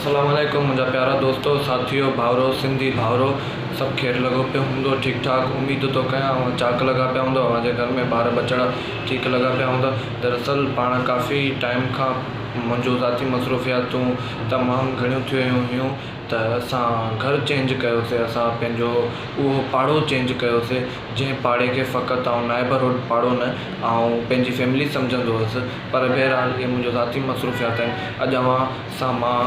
السلام عليڪم منهنجا پيارا دوستو ساٿيو ڀائرو سنڌي ڀائرو سڀ خير لڳو پيو هوندو ٺيڪ ٺاڪ اميد ٿو ڪيان اوهان چاق لڳا پيا هوندو اوهان جي گهر ۾ ٻار ٻچڙا ٺيڪ لڳا پيا هوندا دراصل پاڻ ڪافي ٽائيم کان منهنجو ذاتي مصروفياتون تمام گهڻيون ٿي ويون هيون ته اسان گهر چينج ڪيو سي اسان پنهنجو اهو پاڙو چينج ڪيو سي جنهن پاڙي کي فقط آئون نائبرهوڊ پاڙو نه آئون پنهنجي فيملي سمجهندو هوس پر بهرحال اهي منهنجو ذاتي مصروفيات آهن. اڄ اوهان سان مان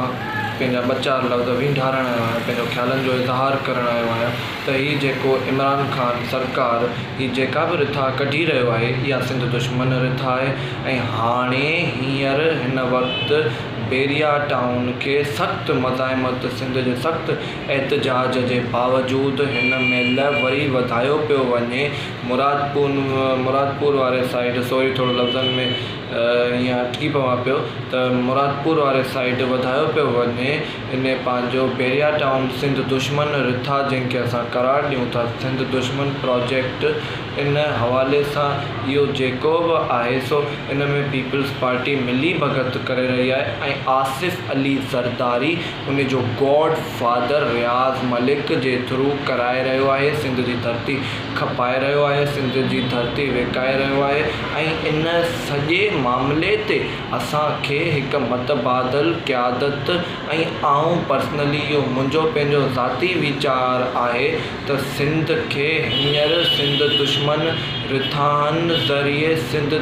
پنهنجا ٻه چار لفظ وينڍارڻ آيو آهيان، پنهنجو خيالن جو اظهار ڪرڻ آيو آهيان ته هي جيڪو عمران خان سرڪار هي جيڪا به رٿا ڪڍي رهيو آهي اها سنڌ دشمن رٿا آهي ۽ هاڻي هينئر هن وقت بيريا ٽائون کي سخت مزاحمت سنڌ جي سخت احتجاج جي باوجود هن مهل وري وڌايو پيو وڃي مرادپور مرادپور واري سائيڊ سوري ٿورو لفظن ۾ ايئن اٽڪي پوان پيو ته مرادپور واري سائيڊ وڌايو پيو وڃي ان پنهنجو بيريا ٽائون سنڌ دشمن رٿا جنهن کي اسان قرار ڏيون ٿا سنڌ دشمن پراجيڪٽ ان حوالي سان اهو جيڪو به آهي سو ان ۾ پيپلز پارٽي ملي ڀڳت ڪري رهي آهي ۽ آصف علي زرداري ان جو گاڊ فادر رياض ملڪ جي ٿرو ڪرائي رهيو آهي سنڌ جي ڌرتي کپائي رهيو آهي سنڌ جي ڌرتي وڪائي رهيو آهي ۽ ان سڄي معاملي تي اسان کي هڪ متبادل قيادت ۽ آئون پرسنلي اهو منهنجو پنهنجو ذاتي ويچار آهي ته سنڌ کي هينئر سنڌ دشمن رٿائن ذريعي سنڌ